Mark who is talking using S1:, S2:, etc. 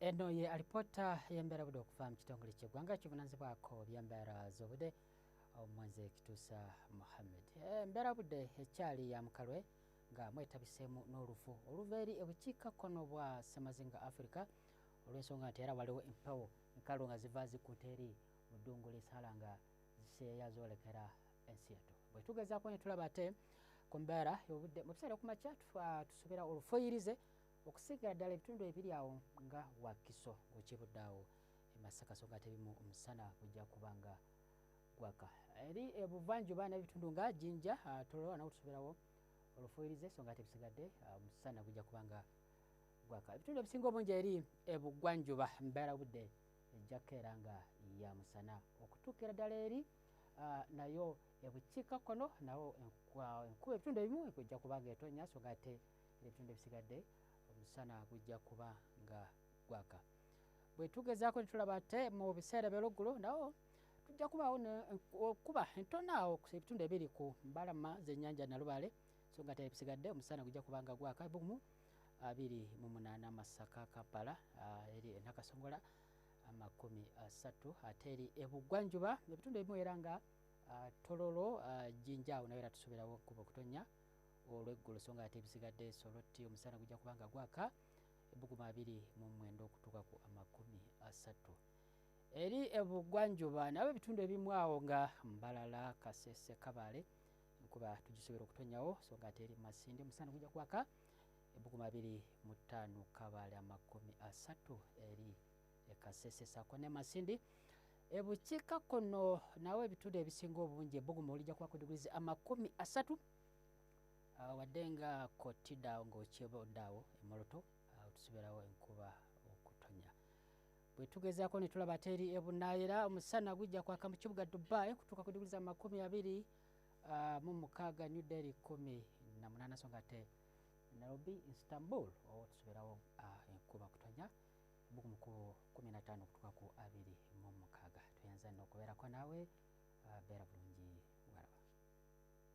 S1: eno ye alipota yembeera budde okuva mu kitongole kyeggwanga kivunanzibwako byembeera z'obudde omumanze kituusa muhammed eh, embeera budde ekyali ya mukalwe nga mwetabiseemu n'olufu oluva eri ebukiikakkono bwa semazinga africa olw'ensonga nti era waliwo empewo enkalu nga ziva zikkuta eri mu ddungu lisala nga ziseeya zoolekera ensi yatu bwe tugezaako ne tulaba ate ku mbeera y'obudde mu biseera okumakya tusuubira olufuyirize okusigira ddala ebitundu ebiri awo nga wakiso okibudde awo emasaka so nga tebimu omusana gujja kuba nga gwaka eri ebuvanjuba nebitundu nga jinja ah, tolowa nawo tusubirawo olufuyirize so nga tebisigadde ah, omusana gujja kuba nga gwaka ebitundu ebisinga obungi eri ebugwanjuba mbeera budde ejjako era nga ya musana okutuukira ddala eri ah, nayo ebukiika kono nawo enkuba ebitundu ebimu ekujja kuba nga etonya so nga te ebitundu ebisigadde omusana gujja kuba nga gwaka bwe tugezaako ne tulaba ate mu biseera by'oluggulu nawo tujja kubaawo okuba entonaawo ebitundu ebiri ku mbalama z'ennyanja nalubaale so nga te ebisigadde omusana gujja kuba nga gwaka bumu abiri mu munaana masaka kampala ah, eri enakasongola amakumi asatu ate eri ebugwanjuba ebitundu ebimu era nga ah, tololo ah, jinjaawo nayo era tusuubirawo okuba okutonnya olweggulo so nga ate ebisigadde solotti omusana gujja kuba nga gwaka ebuguma abiri mu mwenda okutuuka ku amakumi asatu eri ebugwanjuba nabo ebitundu ebimu awo nga mbalala kasese kabale kuba tugisobera okutonyawo so nga ate eri masindi omusana gujja kwaka ebuguma abiri mu ttaano kabale amakumi asatu eri ekasese sako ne masindi ebukiika kkono nawe ebitundu ebisinga obungi ebbugumu olijja kuba ku digrizi amakumi asatu ah, wadde nga kotidaawo ngaokyeba oddaawo emoloto ah, tusibeerawo enkuba okutonya bwe tugezaako ne tulaba teri ebunaayera omusana gujja kwaka mu kibuga dubai kutuuka ku digrizi amakumi abiri ah, mu mukaaga new delhi kumi na munaana so nga te nairobi istanbul owo tusibeerawo enkuba okutonya buku mukubo 15 okutuka ku abiri mu mukaga tuyanza nokubeerako naawe uh, beera bulungi waraba